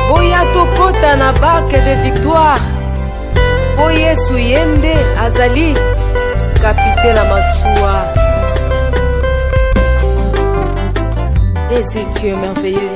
boya tokota na barke de victoire mpo yesu ye nde azali kapite na masuwa et si tu es merveilleux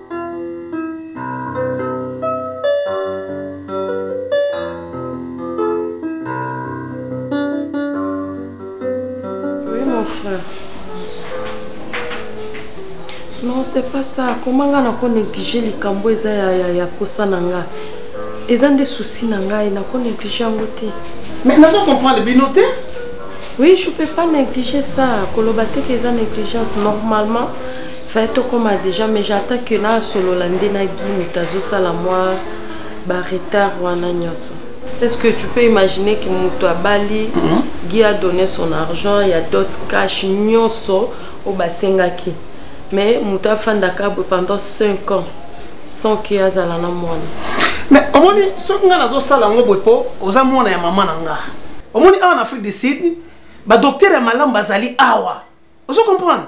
non c'est pas ça koma ngai nako néglige likambo eza ya, ya, ya posa na ngai eza nde souci na ngai nako néglige yango te mais nazo comprendre bino te oui je peux pas négliger ça koloba te ke eza négligence normalement Fai tokoma deja mais j'attends que nasolola nde na gi moto azosala mwa baretard wana nyonso est ce que tu peux imaginer ke moto abali mm -hmm. gi a donné son argent ya dot cash nyonso oyo basengaki mais moto afandaka boye pendant 5 ans sans ke azala na mwana mais omoni soki ngai nazosala yango boye mpo oza mwana ya mama na nga omoni awa na afrique du sud badoktere ya malamu bazali awa ozo comprendre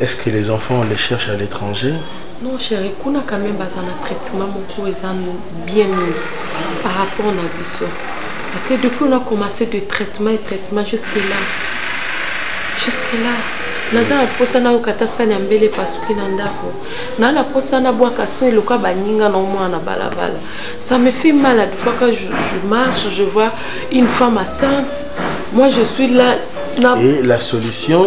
Est-ce que les enfants, on les cherche à l'étranger Non, chérie, kuna quand même baza na traitement moko eza bien mieux par rapport na biso. Parce que depuis on a commencé de traitement et traitement jusque là. Jusque là. naza na mposa nayoka ata sani ya mbele epasuki na ndako naa na mposa nabwaka so eloka baninga na omwana na balabala ça me fait mal de fois quand je, je marche je vois une femme assante moi je suis là na... et la solution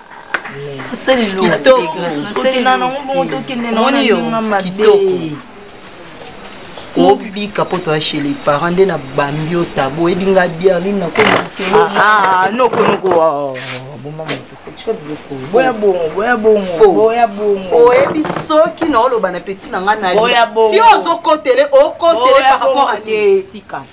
obika mpo toya chez les parents nde na bambi yo tabo oyebi nga biere nini nakonokonokowa boma moto boya bongo boya bongo boya bongo oyebi soki naoloba na peti na ngai na yo ozokotele okotele par rapport a tika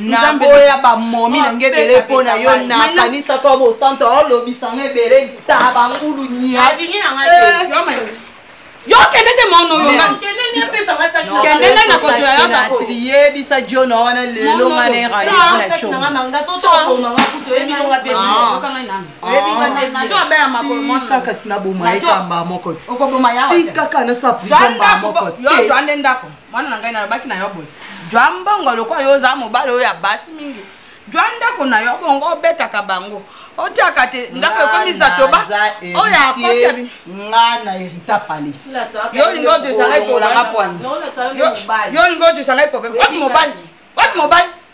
naboya bamomi na nge ebele mpo na yo nakanisaka wa bosanto olobisanga ebele taba ngulu nia yo kende te mono yokendende na kotola yo sakotiyebisa jona wana lelo ngana erayona como jwa mbongo lokola yo oza mobali oyo ya basi mingi jwa ndako na yo bongo obetaka bango otiaka te ndako ekomisa toba oyo akoteli nga na herita pale yo olingi otisangai problème yo olingi otisangai problème wati mobali wati mobali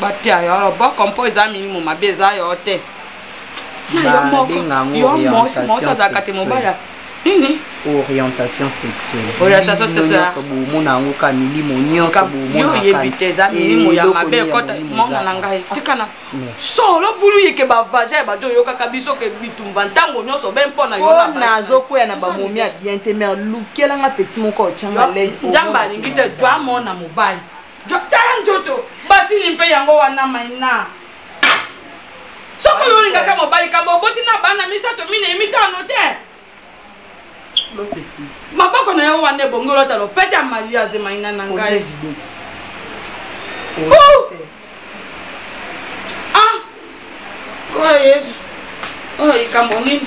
batia yo boko mpo eza milimo mabe eza yo te yomosazalaka te mobali nini orientation sexuelle orientation sexuelleomona yango ka milimo nyonsoyoyebi te eza milimo ya mabe ekota mona na ngai tikana solo bulu yeke bavage ya bato oyokaka biso ke bitumba ntango nyonso be mpo na yo nazokwea na bamomi ya bien te mer lukelanga peti moko otyanga les njambe alingi te to amona mobali tala nzoto basili mpe yango wana maina soki olingaka mobali kambo oboti na bana misato minei mitano te maboko na yo wana ebongi olota lopete ya mariage maina na ngai oyo yesu oyo likambo nini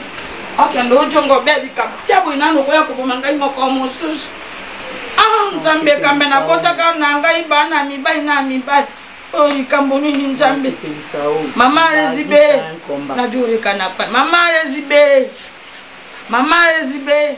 okende ojonga obe likambo sia boyi nano okoya koboma ngai moko mosusu ah, nzambe ekambe nakotaka na ngai bana mibali na mibali oyo likambo nini nzambe mama rezibe najorekana pa mama rezibe mama rezibe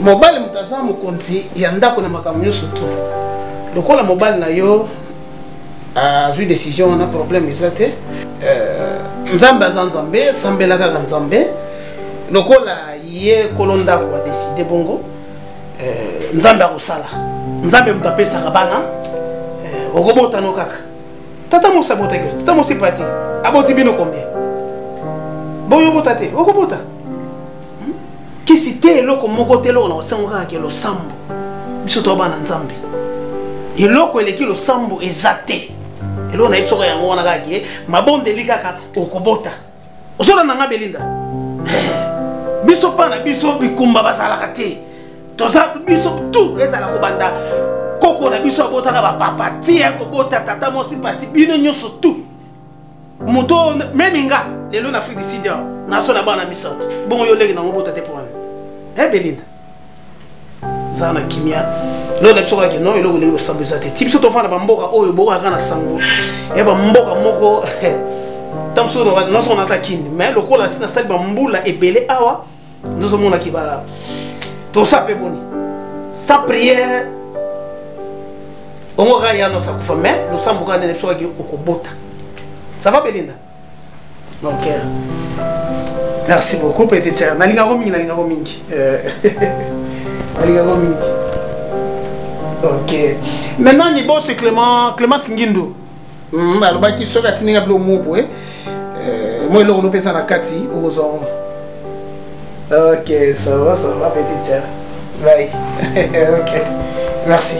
mobali moto aza mokonzi ya ndako na makambo nyonso to lokola mobali na yo azwi décision wana problème eza te euh, nzambe aza nzambe sambela kaka nzambe lokola ye kolo ndako adeside bongo euh, nzambe akosala nzambe moto apesaka bana euh, okobotano kaka tata mosi abotaki tata mosi pati aboti bino combien boyobota te okobota hmm? kisi te eloko moko te eloko na kosengo kaka ke losambo biso toa bana nzambe eloko eleki losambo eza te eloko nayebi soko yango wana kaka ke mabondeli kaka okobota ozolanda nga belinda biso mpa na biso bikumba bazalaka te toza biso tu ezala kobanda koko na biso abotaka bapapa ti ya kobota tata mwasi pati bino nyonso tu moto meme nga lelo na afrique du sud awa naso na bana misato bongo yo leki na mobota te mpo wana e belinda zala na kimia lelo na biso kaka no eloko ndenge losambo eza te ti biso tofanda bamboka oyo bokaka na sango ya bamboka moko ntango mosusu nasoko nata kini mai lokola si nasali bambula ebele awa ndozomona ke ba tosa mpe boni sans prière ongo kaka yano sakufa mais losambo kaka ndene biso kaki okobota ça va belinda mon cœur merci beaucoup petite sœur nalingako mingi nalingako mingi euh, nalingako mingi ok maintenant niboso clément clémence ngindo hmm, alobaki soki atindi nga bilo moko boye eh, mwa eloko nopesa na kati okozwa ngo ok ça va ça va petite sœur bye ok merci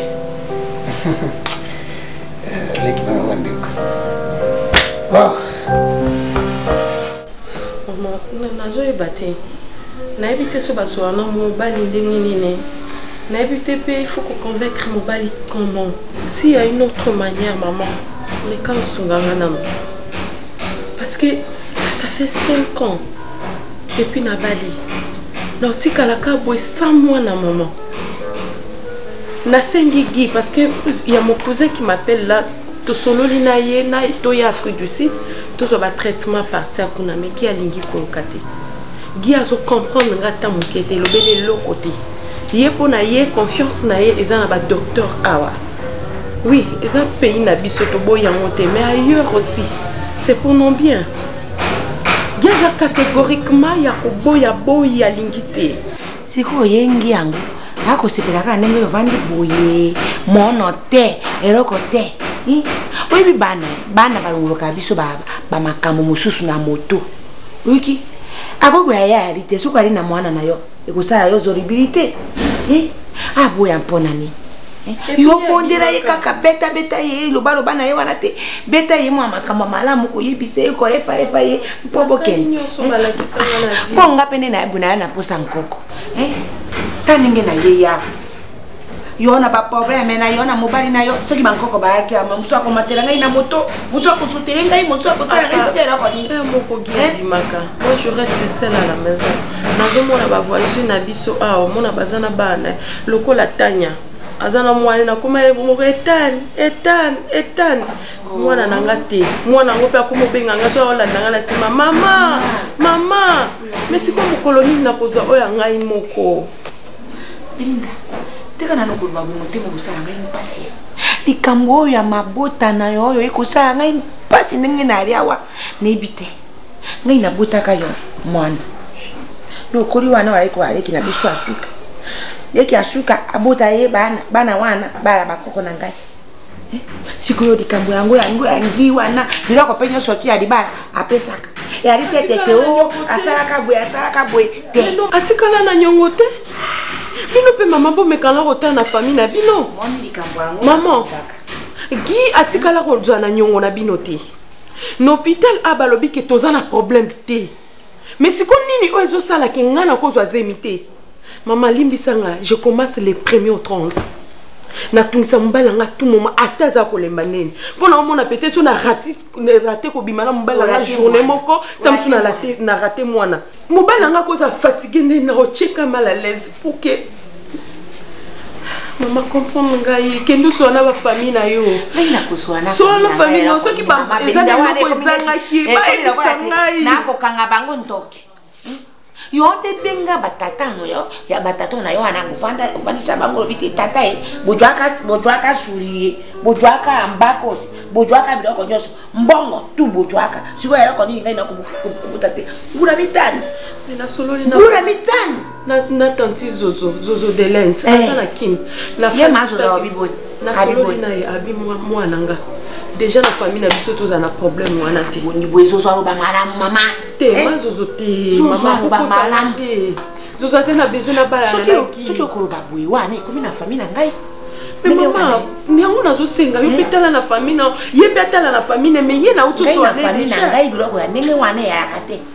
euh, leki na mabandeko wow. nazoyeba te nayebi te so basola na mobali ndenge nini nayebi te mpe il faut koconvaincre mobali comment si ya une autre manière maman meka osunga nga nano parce que ça fait 5 ans depuis nabali na otikalaka boye sans mwana maman nasengi gi parce que ya mokousin qui m'appelle là tosololi na ye na toye afrique du sud tozwa batraitement parti akuna meki alingi koluka te gi azocomprendre nga ata moke te elobeli eloko te ye mpo na ye confiance na ye eza na badocteur awa oui eza pays na biso toboyi yango te mais ailleurs aussi c'est pour non bien gi aza catégoriquement ya koboya boyi alingi te sikoyo oyengi yango akosepela kaka ndenge oyo ovandi boye mono te eloko te oyebi bana bana balongolokaka biso bamakambo mosusu na moto oyoki akoki koya ya yali te soki ali na mwana na yo ekosala yo zoribilité aboya mpo na nini yo bondela ye kaka betabeta ye lobaloba na ye wana te beta ye mwa makambo malamu koyebisa ye kolepaepa ye mpo bokende mpo nga mpe nde nayebu naya na mposa nkoko eh? ta ndenge naye yawa yo na baprobleme na yo na mobali na yo soki bankoko bayaki ama mosu akomatela ngai na moto mosu akosutele ngai mosu akosala ngai soki eloko ninazomona bavoisine na biso awa omona baza na bana lokola tanya aza na mwana nakoma ye moko etane etane etane mwana na nga te mwana yango mpe akoma obenga nga so aolanda nga na nsima mama mama me sikoyo mokolo nini nakozwa oyo ya ngai moko belinda tika nano koloba bongo te mokosala ngai mpasi likambo oyo ya mabota na yo oyo ekosala ngai mpasi ndenge nayali awa nayebi te ngai nabotaka yo mwana lokoli wana oyaki koaleki na biso ya suka leki ya suka abota ye bana bana wana bala bakoko na ngai eh, sikoyo likambo yango yango ya ngi wana biloko mpe nyonso tu ya libala apesaka yali te tete o asalaka boye asalaka boye te atikala na nyongo te bino mpe mama bomekana kotala na famille na bino mama gi atikala kozwa na nyongo na bino te na hôpital a balobi ke toza na problème te mais siko nini oyo ezosala ke ngai nakozwa zemi te mama limbisa ngai je commence le premier au 30 natungisa mobali yanga tout moment ata aza kolemba nini mpo na omona peut-être so narate kobima na mobali yanga journée moko ta mosusu na rate mwana mobali yanga akoza fatigue nde naotyeka mal à l'aise pour que mama comprendre ngai kende oswa na bafamille na yo sola na famille na soki eza na eloko ezangaki eh, bayebisa ngai nakokanga bango ntoki hmm? yo nde benga batata yo ya batata na yo wana ofandisa bango olobi te tata ye bojwaka suri ye bojwaka mbakosi bojwaka biloko nyonso mbongo tu bojwaka sikoyo eloko nini ngai nakobuta te mbula mitano mbula mitano na na tanti zozo zozo de lens eh. aza na kin na ye ma zozo abi boni na solo na ye abi mwana nga déjà na famille na biso toza na problème wana te boni boye zozo aloba malamu mama te eh? ma zozo te zozo aloba malamu te zozo aza na besoin na bala na ki soki okoloba boye wana ekomi na famille na ngai mpe mama yango nazosenga yo mpe eh. tala na famille na ye mpe atala na famille na me ye na utosoaebiloko ya ndenge wana eyalaka te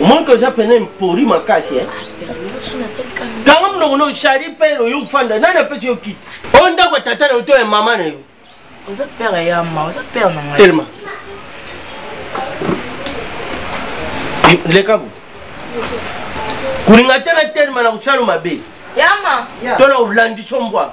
omoni ke oza mpena mpori makasi eh? kanga monoko no shari pere oyo ofanda nani apesi yo kiti oyo ndako ya tata na yo to ya mama na yo telema leka bo kolinga te na telema na kosalo mabe to na kolandisa mbwa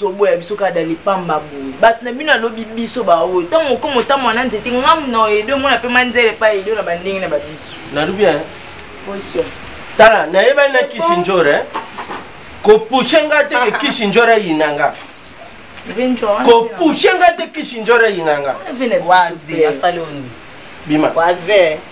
zoboya biso kaka dani pamba boye bato na bino alobi biso baoyo ntango mokoma otambola na nzete ngamu na edo omona mpe manzele epai edo na bandenge na babiso nalobi eh? position tala nayebani na kisi njora eh? kopushe nga te ke kisi njora yina nga kopushe nga te kisi njora yina nga bima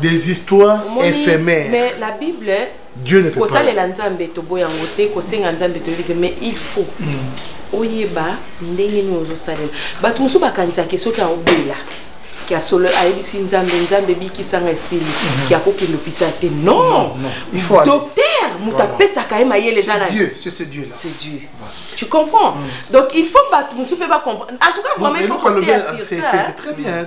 des histoires éphémères mais la bible dieu ne peut pas kosalela nzambe toboya yango te kosenga nzambe toyebi te mais il faut mm. oyeba ndenge nini ozosalela bato mosusu bakanisaki soki aobela ya solo ayebisi nzambe nzambe ebikisanga esili mhm. ya kokende hôpital te non docteur moto apesaka ye mayele eza na dieu tu comprends mm. donc il faut bato mosusu mpe bacomprendre en tout cas vraiment il faut koteya sur ça très bien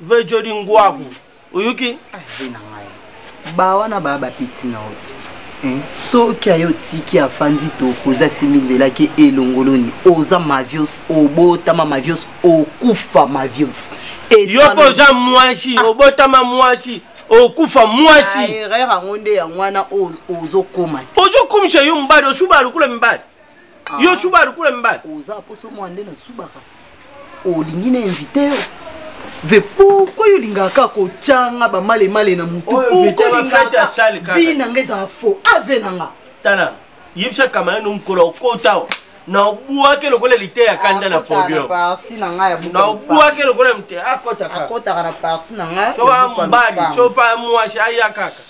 vejodi ngwaku oyoki ave na ngai bawana baa bapeti na oti eh, soki ayo otiki afandi toko oza simbi nzela ke elongoloni oza mavios obotama mavios okufa mavios yoko oza mwasi ah. obotama mwasi okufa mwasi ah, erreur yango nde yango wana ozokoma ozokomisa yo mbadi osuba lokola mibali Ah. yo suba lokola mibali oza poso mwa nde nasubaka olingi na invite yo ve pourkoi olingaka kaka kotyanga bamalemale na motu pourkoivi na nga ezala faux ave na nga tala yebisa kamana no mokolo okota awa na obwaki lokola lite ya kanda na podium na obwaki lokola mte akotaka akotaka na parti na nga soka mbadi sopa mwasi aya kaka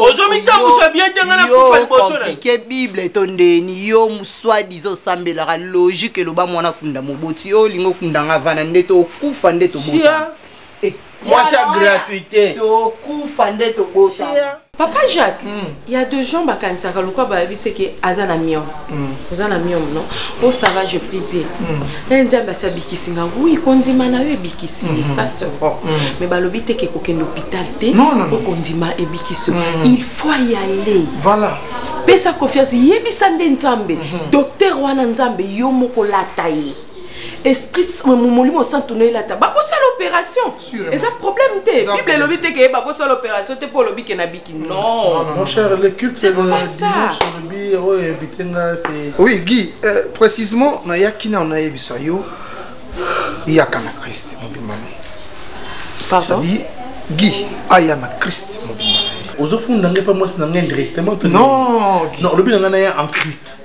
ozomitambusa bien te ngai nakufa liboso naike bible to ndeni yo swadiza osambelaka logique eloba mwana kunda moboti yo olingi okunda nga vana nde tokufa nde tobota eh, mwasi ya gratuité tokufa nde tobota papa jacques hmm. ya deux gens bakanisaka lokwa bayebiseke aza na miongo Mm. oza na miome no o oh, ça va je prie dieu mm. e nzambe asi abikisi nga wi kondima na yo ebikisi yo mm-hmm. ça se rend mm. mais balobi te ke kokende hôpital te okondima ebikisi yo il faut y aller voilà pesa confiance yebisa nde nzambe mm-hmm. docteur wana nzambe yo moko lata ye esprit molimo santu noyelata bakosala opération eza problème te bible elobi te keyeba kosala opération te mpo olobi ke nabiki mm. nonwi guy euh, précisement nayaki nao nayebisa yo yaka na christ mobimba na cetadire guy aya na christ mobimba ozofunda ngai mpe mwasi na ngai indirectement non olobi na ngai na ye en christ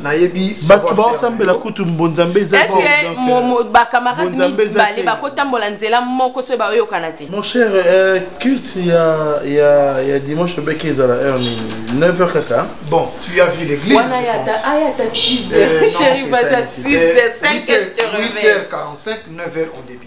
nayebi bato baosambela kutu mbonzambe ezabakamarade mibale bakotambola nzela moko soki baoyokana te mon cher euh, culte ya, ya, ya dimanche obeke ezala heure nini 9 heure kaka bon tu as vu l'église wana ayata 6 chéri vas à 6 5 8 heures 45 9 heures on début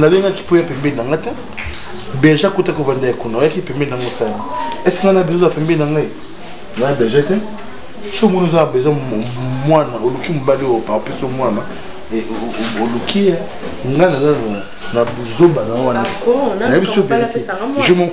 nalingaki mpo ya pembeni na nga te berge akuta kovanda ya kuna oyaki pembeni nango osala eske nga na bezo ya pembeni na ngai na berge te so omoni oza bezo mwana oluki mobali oyo parapluso mwana e, oluki ye nga naza na buzoba na wana nayebi so je m'en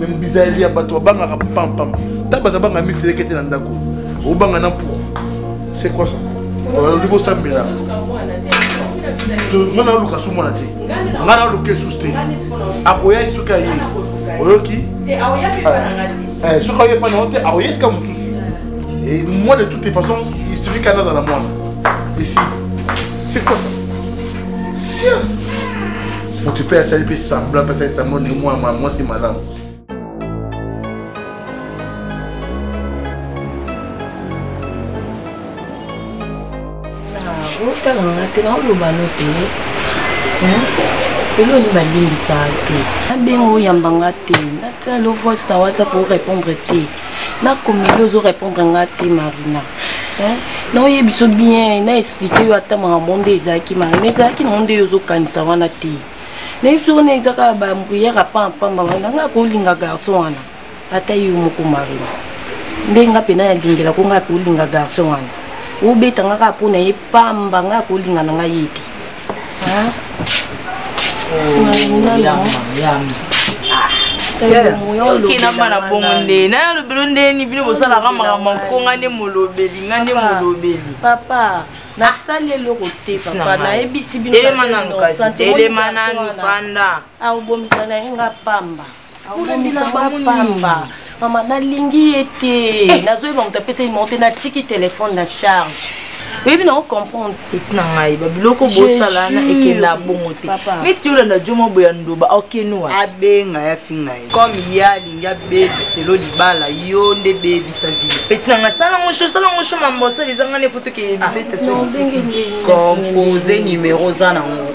me bizaleli ya bato babangaka pampam ntango bato babanga miseleke te na ndako obanga na mpo c'est quoi ça olobi bosambela nga na oluka su mwana te nga na oluka esusu te akoya ye soki aye oyoki eh, soki aye pana te akoya esika mosusu moi de toutes les façons il suffit kana azala mwana esi c'est quoi ça sien moto mpe asali mpe semblant mpe asali semblant ndenge mwana mwasi malamu otala nga te naoloba no te eloni balimbisaka te nabenga oyamba nga te natala lo voice na whatsapp orépondre te nakomeli ozo répondre nga te marina naoye biso bien na explike yo ata makambo nde ezalaki makambo ezalaki nango nde yo ozokanisa wana te nayebi biso wana eza kaka bambriere apampamba wana nga kolinga garçon wana ata yo moko marina nde nga mpena yalingela ko nga kolinga garçon wana obeta nga kaka mpo na ye pamba nga kolinga na ngai ye te okenda mba na bongo nde na ya lobelo ndeni bino bosalaka makambo nkonga nde molobeli nga nde molobeli papa nasali eloko te papa nayebisi binoelema nanu fanda aobomisa na ye nga pamba abomisa bapamba mama nalingi ye te eh. nazoyeba moto apesa ye monte natiki telefone na charge oyebi nango comprendre peti na ngai babiloko bosala na ekenda bongo te neti yolanda jo mwa boya ndoba okenoa abenga ya finga ye comme ye alingi abebiselo libala yo nde bebisa vile peti na ngai sala ngo sho sala ngo sho mambo osala eza ngai nefoto keyebiletecompose ah, numero oza nango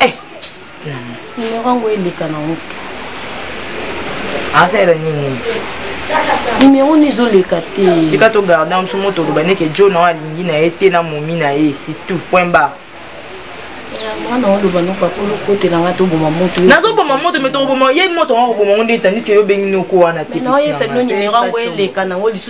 eh numero yango eleka na ngo asala nini numero ni ezoleka te tika togarde yango biso moto oloba ndeke jo na oyo alingi na ye te na momi na ye sitout point bar mwana oloba no papa olokotela nga toboma moto nazoboma moto me tokoboma ye moto yango akoboma ngo nde etandiske yo obengi noko wana te na oyesa bino numero yango eleka nango lisusu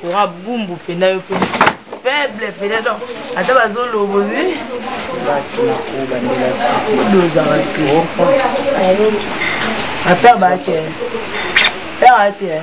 kora bumbu mpena yo mpe faible mpena donc ata bazolobo bi basi nakobandela sudozaka mpe ata bake pere te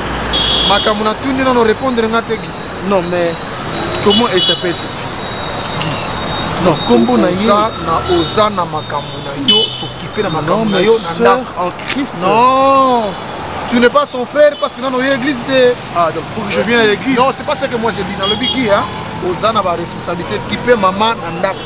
makambo natuni nano repondre nga te non mais comment elle s'appelle fifi non kombo na ye na oza na makambo na yo s'occuper na makambo na yo na ndako en christ non tu n'es pas son frère parce que nano oye église te ah donc faut que je vienne à l'église non c'est pas ce que moi j'ai dit nalobi ki hein oza na baresponsabilité kipe mama na ndako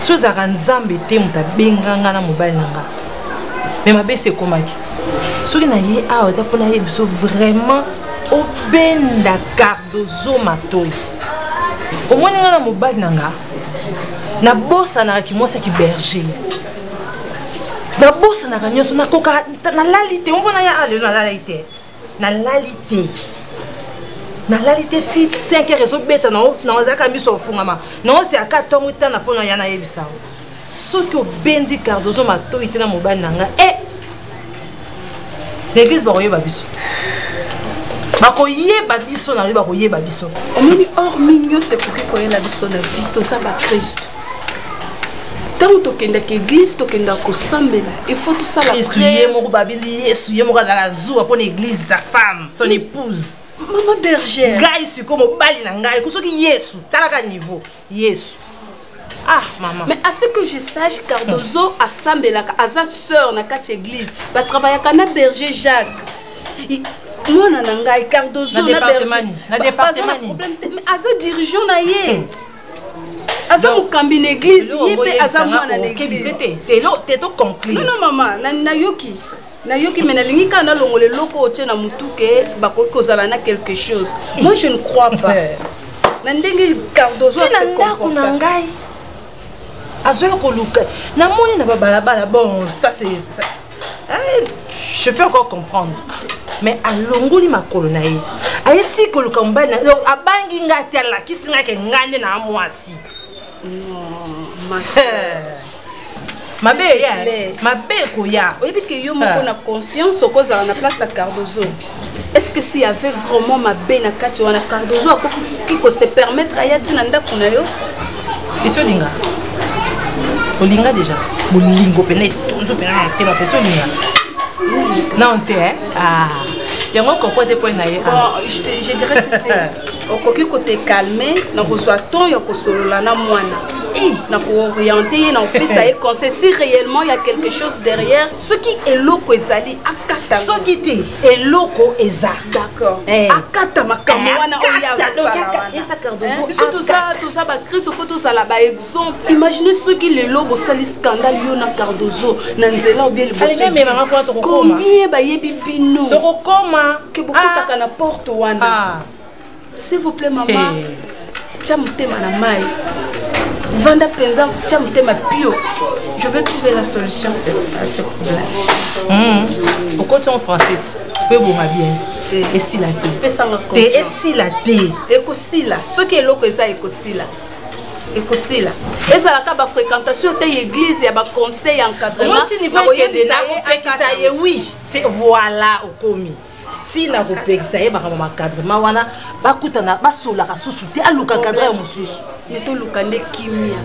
so ezalaka nzambe te moto abenga nga na mobali na nga me mabe se ekomaki soki na ye awa ah, eza mpona ye biso vraiment obenda cardozo matoi omoni nga na mobali na nga nabosanaka kimwasi ya kiberger nabosanaka nyonso nakokaka nalali te ompo na ya ah, lelo nalalai te nalali te nalali te ti 5 heure ezobeta nazalaka miso ofungama naosi aka ntongo etana mpo na ya nayebisa yango soki obendi cardozo matoi te na mobali na ngai e eh! l'église bakoyeba biso bakoyeba biso na yo bakoyeba biso omoni or mingi nyonso ekoki koyela biso na vi toza bakristo ntango tokendaka eglise tokenda kosambela ifo tosalayesu ye moko babindi yesu ye moko azala zuwa mpo na eglise za femme son épouse mama bergère ngai sikoyo mobali na ngai ko soki yesu talaka niveau yesu Ah, maman. Mais à ce que je sache, Cardozo a Sambelaka, à sa sœur, na quatre église, va travailler à Cana Berger Jacques. Il... mwana na ngai cardozo na berger na département problème te mais aza dirigeant na ye hmm. aza mokambi na eglize ye mpe aza mwana na eglize non mama nayoki nayoki me nalingi kaka nalongola eloko otie na motuke bakoki kozala na quelque chose moi je ne crois pas na ndenge cardozo na ndako na ngai azoya koluka namoni na babalabala bon ça c'est eh, je peux encore comprendre mais alongoli makolo na ye aye ti koluka mobali na donc abangi ngai te alakisi ngai ke ngai nde na mwasi mabe eya mabe ekoya oyebi ke yo moko na conscience okozala na place ya cardozo est ce que s'il y avait vraiment mabe na kati wana cardozo akoki ko se permettre aya ti na ndako na yo esi olinga olinga déjà bolingo mpena etonzo mpena na motema mpesi olinga non te ah. yango koko te mpo na ye ah. je dirais sisi okoki kotekalme na kozwa temps ya kosolola na mwana na kooriente ye na kopesa ye conseil si réellement ya quelque chose derrière soki eloko ezali soki te eloko eza eh. akata makambo eh, wana oyatoza bakristo fo tozala baexemple imagine soki lelo bosali scandal yo na cardozo na nzela obie libosocombien bayebi bino tokokoma ke bokotaka ah. na porte wana ah. s'il vous plaît mama tya motema na mai vanda mpenza tya motema pio je veux trouver la solution à ce problème hmm. okoti en français mpe ebonga bien esila te pesanga te esila te ekosila soki eloko eza ekosila ekosila ezalaka bafréquentation te ya église ya baconseil ya encadrementnakoyebisa ye wi voilà okomi ntina kopekisa ye makambo makadrema wana bakutana basolaka susu te aluka kadre ya mosusu ne toluka nde kimia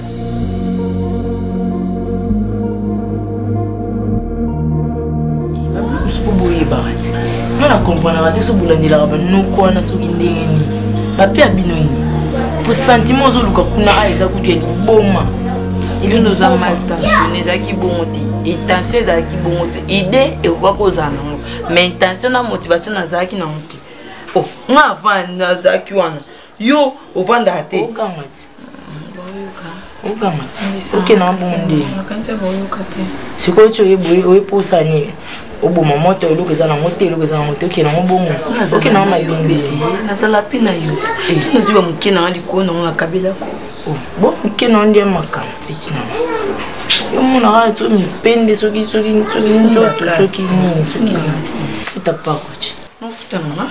boyebaka te nga na komprenaka te so bolandelaka banoko wana soki ndenge nini bape ya bino nini po sentiment ozoluka kuna a ah, eza kutu ya liboma elelo oza mal tensionne ezalaki bongo te etension ezalaki bongo te idee ekoka kozala nango mais intention na motivation nazalaki na moke oh, nga avant nazalaki wana yo ovandaka te sikoyo ti oyeboye oyepusani oboma moto eloko eza nango te eloko eza nango te okende yango bongo okende yango mabende nazala mpe na yo eh. nazwi bamoke nanga likolo nango nakabelako bo moke na nde makambo peti na yo monaka to mipende soki soki soki nzoto soki nini soki futa pakoci nofuta nanga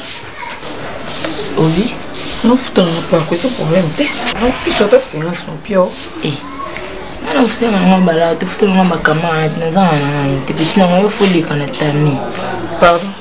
obi nofuta nanga pako eza problème te nopiso ata silence nopio e eh. ana ofisa nanga bala tofuta nanga bakamarade naza na nanga te pesi nanga yo foleka na tami pardon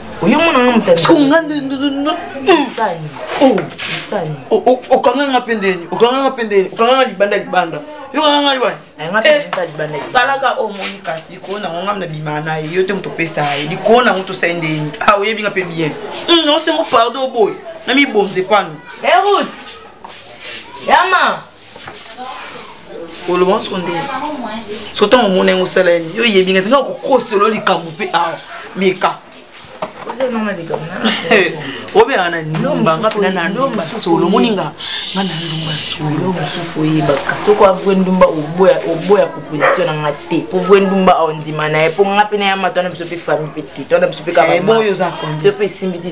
oyo mona nga motanisani okanga nga mpe ndeni okanga nga mpe ndeni okanga nga libanda libanda yokanga nga libasalaka oyo omoni kasi likolo nango nga na bima na ye yo te moto opesa ye likolo nango tosali ndeni a oyebi nga mpe bien osengo pardon boye namibonze pano erut yama oloba nyonso nde so ntango omona yango osala ye yo oyebi nga ntinga kokosolo likambo mpe awa meka obeyaka na ndumba nga mpena na ndumba solo omoni nga nga na ndumba solo mosusu oyebaka soko avue ndumba oboya proposition na nga te mpo vue ndumba ondima na ye mpo nga mpena ya matwana biso mpe famille mpe te twana biso mpe kaka eh, mpe esimbi te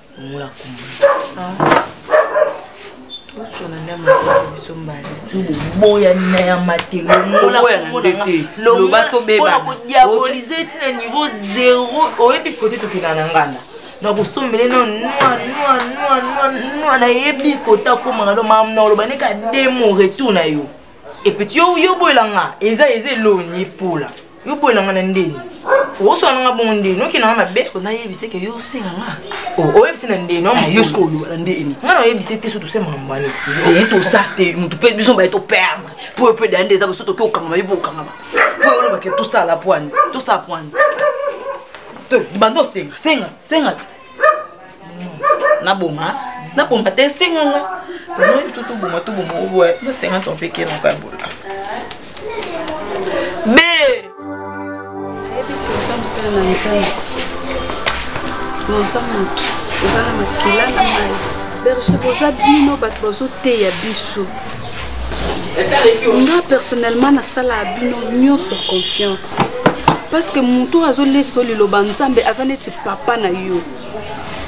Ngola kumba. Ah. Osona nda maboko biso mbala. Tubu boya na ya matelo. Ngola kumba te. Loba to beba. Pona ko diaboliser tina niveau 0. Oyebi kote tokela na nganda. na kosombele no nwa nayebi kota komaka no mamu na oloba neka demo retour na yo epuis yo oboyela nga eza eza elongi epola yo boyela nga na ndeni oswana nga bongo ndeni okenda nga mabe so nayebise ke yo osenga nga oh, oyebisi na ndeni ah, yo soki oloba na ndeni nga na oyebise te so tose makambo wana esili te eh, tosa te motu mpe biso baye toperdre mpo yo mpe daya nde eza boso toke okangama yo mpe okangama mpo olobake tosala pwani tosala pwani banda osenga senga senga naboma naboma te esenga nga oyebi to toboma toboma oboya na 50 ans mpe keloko ya bola be oza mosala na misala oza motu oza na makila na mai berger boza bino bato bazoteya biso nga personnellement nasalaka bino nyonso confiance parce que motu azolesa liloba nzambe aza neti papa na yo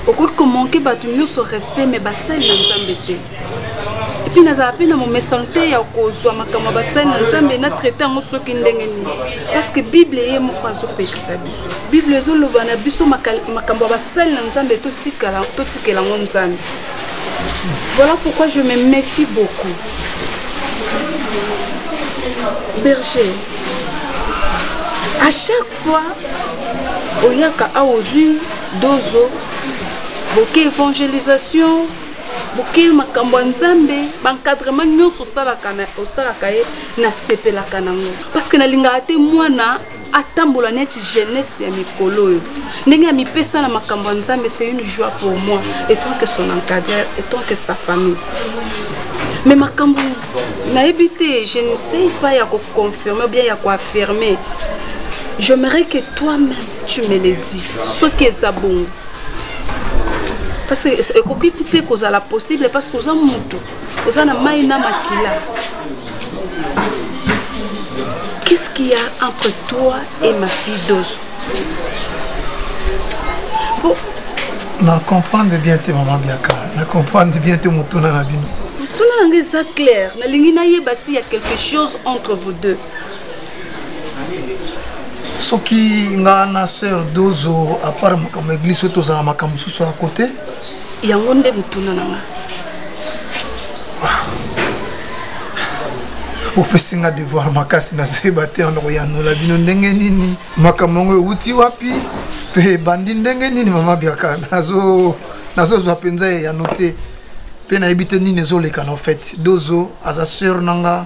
okoki komanke bato nyonso respect me basali na nzambe te epuis nazala mpe na momesano te ya kozwa makambo ya basali na nzambe na traite yango soki ndenge nini parceke bible ye moko azopekisa biso bible ezoloba na biso makambo ya basali na nzambe totikela yango nzambe voilà pourquoi je me méfie beaucoup berger à chaque soit oyaka awa ozwi dozo boke évangélisation boke makambo ya nzambe baencadrement nyonso osalaka ye nasepelaka nango parce que nalingaka te mwana atambola neti jeunesse ya mikolo oyo ndenge amipesa na makambo ya nzambe c'est une joie pour moi etant que son encadreur etant que sa famille mais makambo nayebi te je ne sais pas ya koconfirme bien ya koaffirme j'aimerais que toi-même tu me le dis soki eza bongo parce que ekoki mpe kozala possible parce que oza moto oza na mai na makila qu'est-ce qu'il y a entre toi et ma fille dose na comprendre bien te mama biaka na comprendre bien te motuna na bino motuna yango eza claire nalingi nayeba si ya quelque chose entre vous deux soki nga na sœur dozo apart makambo ya eglise oyo tozala makambo mosusu ya kote yango nde motuna na nga bopesi nga devoir makasi nazoyeba te wana koyanola bino ndenge nini makambo yango euti wapi mpe ebandi ndenge nini mama biaka nazozwa mpenza eyano te mpe nayebi te nini ezoleka na fete dozo aza seur na nga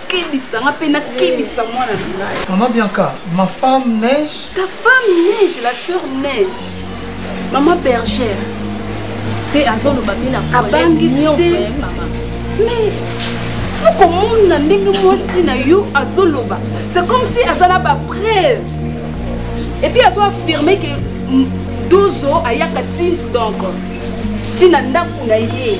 kebisa nga mpe nakebisa mwana na ngai mama bianca ma femme neige ta femme neige la sœur neige mama bergère mpe azoloba mpe na abangi nyonso ye mama mais fo komona ndenge mwasi na yo azoloba c'est comme si aza na bapreuve epuis azo affirme ke dozo ayaka ti donc ti na ndako na ye